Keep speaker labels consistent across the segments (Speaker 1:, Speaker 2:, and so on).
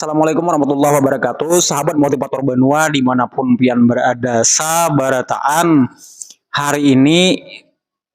Speaker 1: Assalamualaikum warahmatullahi wabarakatuh Sahabat motivator benua dimanapun pian berada Sabarataan Hari ini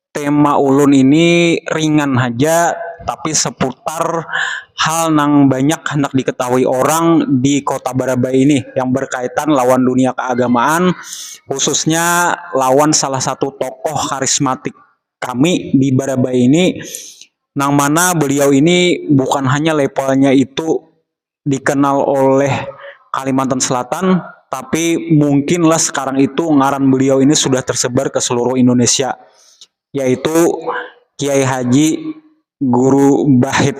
Speaker 1: tema ulun ini ringan haja Tapi seputar hal nang banyak hendak diketahui orang di kota Barabai ini Yang berkaitan lawan dunia keagamaan Khususnya lawan salah satu tokoh karismatik Kami di Barabai ini, nang mana beliau ini bukan hanya levelnya itu dikenal oleh Kalimantan Selatan, tapi mungkin lah sekarang itu ngaran beliau ini sudah tersebar ke seluruh Indonesia, yaitu Kiai Haji Guru Bahit.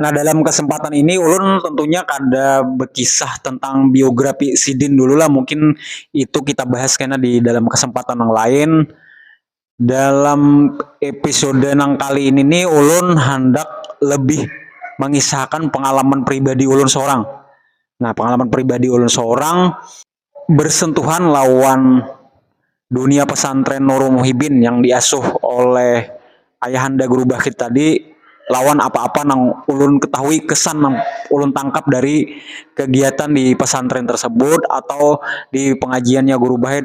Speaker 1: Nah dalam kesempatan ini ulun tentunya kada berkisah tentang biografi sidin dulu lah mungkin itu kita bahas kena di dalam kesempatan yang lain dalam episode nang kali ini nih ulun handak lebih mengisahkan pengalaman pribadi ulun seorang. Nah, pengalaman pribadi ulun seorang bersentuhan lawan dunia pesantren Nurul Muhibin yang diasuh oleh ayahanda guru Bakhit tadi lawan apa-apa nang ulun ketahui kesan nang ulun tangkap dari kegiatan di pesantren tersebut atau di pengajiannya guru Bakhit.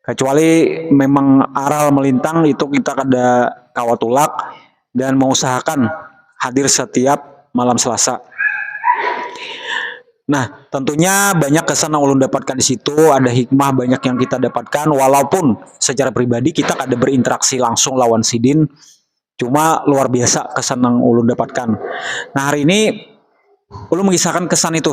Speaker 1: kecuali memang aral melintang itu kita kada kawa tulak dan mengusahakan hadir setiap malam selasa nah tentunya banyak kesan yang ulun dapatkan disitu ada hikmah banyak yang kita dapatkan walaupun secara pribadi kita kada berinteraksi langsung lawan sidin cuma luar biasa kesan yang ulun dapatkan nah hari ini ulun mengisahkan kesan itu.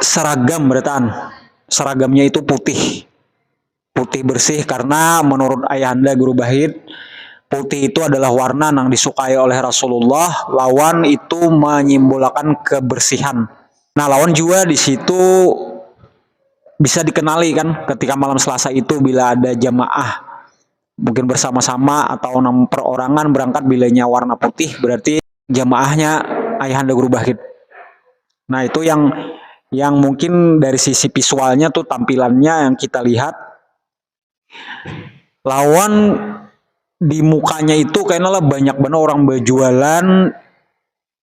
Speaker 1: seragam berataan seragamnya itu putih putih bersih karena menurut ayahanda guru bahit putih itu adalah warna yang disukai oleh Rasulullah lawan itu menyimbolakan kebersihan nah lawan jua di situ bisa dikenali kan ketika malam selasa itu bila ada jamaah mungkin bersama-sama atau nang perorangan berangkat bilanya warna putih berarti jamaahnya ayahanda guru bahid nah itu yang yang mungkin dari sisi visualnya tuh tampilannya yang kita lihat lawan di mukanya itu kayaknya lah banyak banget orang berjualan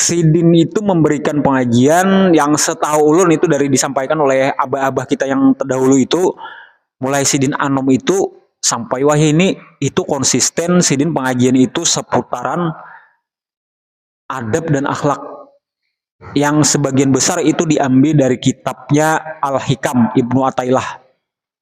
Speaker 1: Sidin itu memberikan pengajian yang setahu ulun itu dari disampaikan oleh abah-abah kita yang terdahulu itu mulai sidin anom itu sampai wahini itu konsisten sidin pengajian itu seputaran adab dan akhlak yang sebagian besar itu diambil dari kitabnya Al-Hikam Ibnu Atailah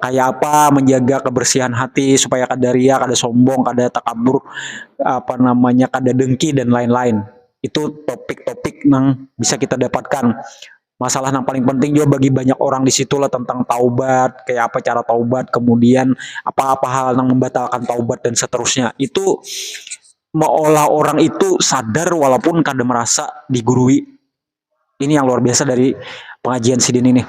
Speaker 1: kayak apa menjaga kebersihan hati supaya kada ria kada sombong kada takabur apa namanya kada dengki dan lain lain itu topik topik nang bisa kita dapatkan masalah nang paling penting jua bagi banyak orang disitulah tentang taubat kayak apa cara taubat kemudian apa apa hal nang membatalkan taubat dan seterusnya itu meolah orang itu sadar walaupun kada merasa digurui ini yang luar biasa dari pengajian sidin ini.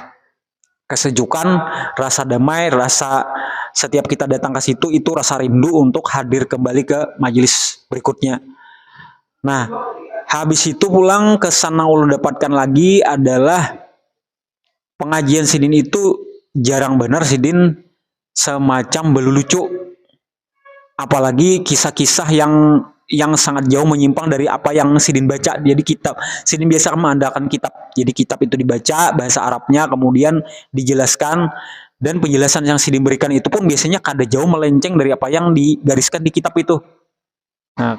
Speaker 1: kesejukan, rasa damai, rasa setiap kita datang ke situ itu rasa rindu untuk hadir kembali ke majelis berikutnya. Nah, habis itu pulang kesan yang ulun dapatkan lagi adalah pengajian sidin itu jarang banar sidin semacam belulucu. apalagi kisah-kisah yang yang sangat jauh menyimpang dari apa yang sidin baca jadi kitab sidin biasa meandalkan kitab jadi kitab itu dibaca bahasa Arabnya kemudian dijelaskan dan penjelasan yang sidin berikan itu pun biasanya kada jauh melenceng dari apa yang digariskan di kitab itu. Nah,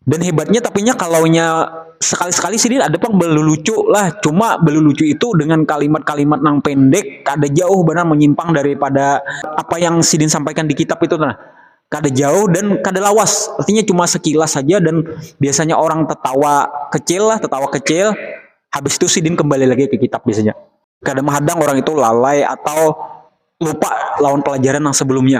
Speaker 1: dan hebatnya tapi nya kalau nya sekali-sekali sih ada pang belulucu lah cuma belulucu itu dengan kalimat-kalimat nang pendek kada jauh benar menyimpang daripada apa yang sidin sampaikan di kitab itu nah kada jauh dan kada lawas artinya cuma sekilas saja dan biasanya orang tertawa kecil lah tertawa kecil habis itu sidin kembali lagi ke kitab biasanya kada menghadang orang itu lalai atau lupa lawan pelajaran yang sebelumnya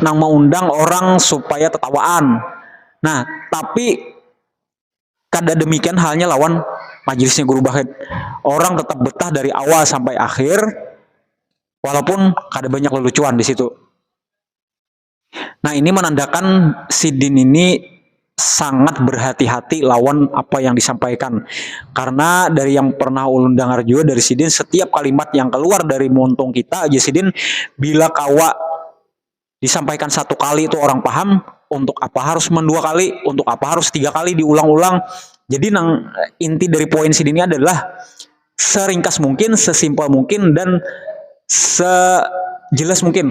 Speaker 1: nang mengundang orang supaya tetawaan. Nah, tapi kada demikian halnya lawan majelisnya Guru Bahit. Orang tetap betah dari awal sampai akhir, walaupun kada banyak lelucuan di situ. Nah, ini menandakan sidin ini sangat berhati-hati lawan apa yang disampaikan. Karena dari yang pernah ulun dengar juga dari sidin setiap kalimat yang keluar dari muntung kita aja sidin bila kawa disampaikan satu kali itu orang paham untuk apa harus mendua kali, untuk apa harus tiga kali diulang-ulang. Jadi nang inti dari poin sidin ini adalah seringkas mungkin, sesimpel mungkin dan sejelas mungkin.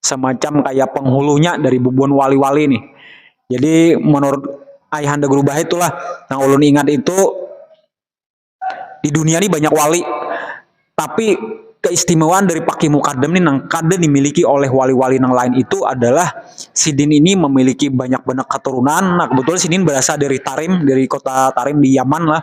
Speaker 1: semacam kayak penghulunya dari bubuhan wali-wali nih. Jadi menurut Ayahanda Guru Bahit itulah yang ulun ingat itu di dunia nih banyak wali tapi keistimewaan dari Paki Mukadam nih nang kada dimiliki oleh wali-wali nang lain itu adalah sidin ini memiliki banyak banyak keturunan. Nah kebetulan sidin berasal dari Tarim, dari kota Tarim di Yaman lah.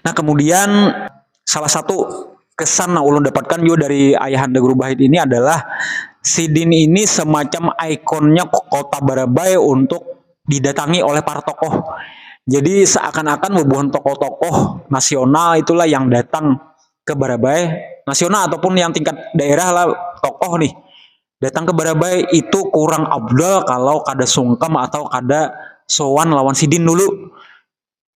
Speaker 1: Nah kemudian salah satu kesan yang ulun dapatkan juga dari Ayahanda Guru Bahit ini adalah sidin ini semacam ikonnya kota Barabai untuk didatangi oleh para tokoh. Jadi seakan-akan bubuhan tokoh-tokoh nasional itulah yang datang ke Barabai, nasional ataupun yang tingkat daerah lah tokoh nih datang ke Barabai itu kurang abdol kalau kada sungkem atau kada sowan lawan sidin dulu.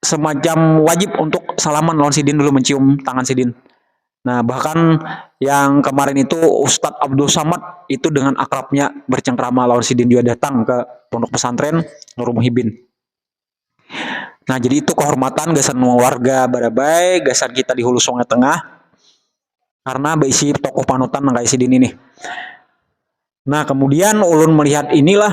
Speaker 1: semacam wajib untuk salaman lawan sidin dulu mencium tangan sidin nah bahkan yang kemarin itu Ustadz Abdul Samad itu dengan akrabnya bercengkrama lawan sidin juga datang ke pondok pesantren Nurul Muhibin nah jadi itu kehormatan gasan warga Barabai gasan kita di Hulu Sungai Tengah karena berisi tokoh panutan nang kayak sidin ini nah kemudian ulun melihat inilah